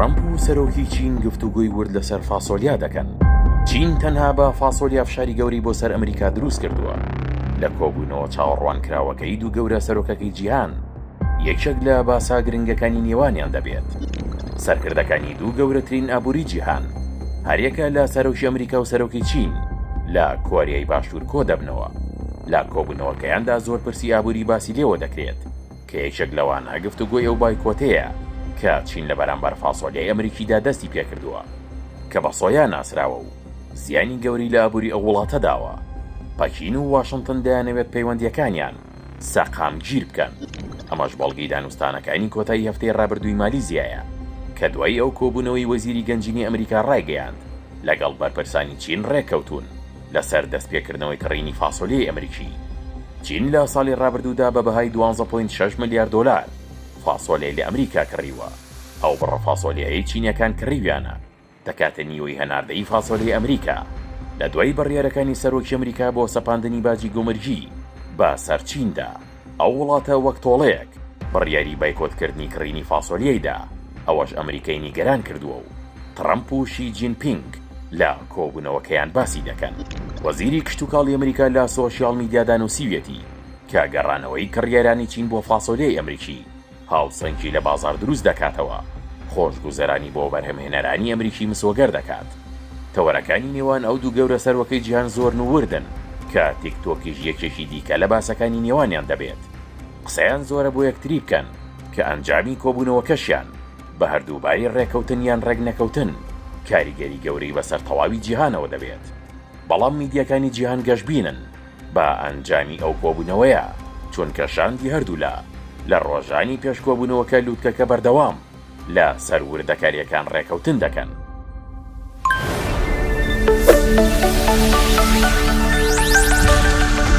ترەمپ و سەرۆکی چین گفتوگۆی ورد لەسەر فاسۆلیا دەکەن چین تەنها بە فاسۆلیا فشاری گەورەی بۆ سەر ئەمریکا دروست کردووە لە کۆبوونەوە چاوەڕوانکراوەکەی دوو گەورە سەرۆکەکەی جیهان یەکێک لە باسە گرنگەکانی نێوانیان دەبێت سەرکردەکانی دوو گەورەترین ئابووری جیهان هەریەکە لە سەرۆکی ئەمریکا و سەرۆکی چین لە کۆریای باشوور کۆدەبنەوە لە کۆبوونەوەکەیاندا زۆر پرسی ئابووری باسی لێوە دەکرێت کە یەکێک لەوانە گفتوگۆی ئەو بایکۆتەیە کە چین لە بەرامبەر فاسۆلیای ئەمریکیدا دەستی پێکردووە کە بە سۆیا ناسراوە و زیانی گەورەی لە ئابووری ئەو وڵاتە داوە. پەکین و واشنتن دەیانەوێت پەیوەندییەکانیان سەقامگیر بکەن، ئەمەش بەڵگەی دانوستانەکانی کۆتایی هەفتەی رابردووی مالیزیایە کە دوای ئەو کۆبوونەوەی وەزیری گەنجینەی ئەمریکا رایگەیاند لەگەڵ بەرپرسانی چین رێککەوتوون. لەسەر دەستپێکردنەوەی کڕینی فاسۆلیای ئەمریکی. چین لە ساڵی ڕابردوودا بە بەهای دوازدە پۆینت شەش ملیار دۆلار فاسۆلیای لە ئەمریکا کڕیوە، ئەو بڕە فاسۆلیایەی چینییەکان کڕیویانە دەکاتە نیوەی هەناردەی فاسۆلیای ئەمریکا لە دوای بڕیارەکانی سەرۆکی ئەمریکا بۆ سەپاندنی باجی گومرگی بەسەر چیندا. ئەو وڵاتە وەک تۆڵەیەک بڕیاری بایکۆتکردنی کڕینی فاسۆلیای دا، ئەوەش ئەمریکای نیگەران کردووە و تڕەمپ و شی جین پینگ لە کۆبوونەوەکەیان باسی دەکەن. وەزیری کشتوکاڵی ئەمریکا لە سۆشیاڵ میدیادا نووسیویەتی کە گەڕانەوەی کڕیارانی چین بۆ فاسۆلیای ئەمریکی، هاوسەنگی لە بازاڕ دروست دەکاتەوە، خۆشگوزەرانی بۆ بەرهەمهێنەرانی ئەمریکی مسۆگەر دەکات. تەوەرەکانی نێوان ئەو دوو گەورە سەرۆکەی جیهان زۆرن و وردن، کە تیکتۆکیش یەکێکی دیکە لە باسەکانی نێوانیان دەبێت. قسەیان زۆرە بۆ یەکتری بکەن، کە ئەنجامی کۆبوونەوەکەشیان بە هەردووباری ڕێککەوتن یان ڕێکنەکەوتن کاریگەری گەورەی بەسەر تەواوی جیهانەوە دەبێت. بەڵام میدیاکانی جیهان گەشبینن بە ئەنجامی ئەو کۆبوونەوەیە، چونکە شاندی هەردوولا لە ڕۆژانی پێش کۆبوونەوەکە لووتکەکە بەردەوام لە سەر وردەکارییەکان ڕێکەوتن دەکەن.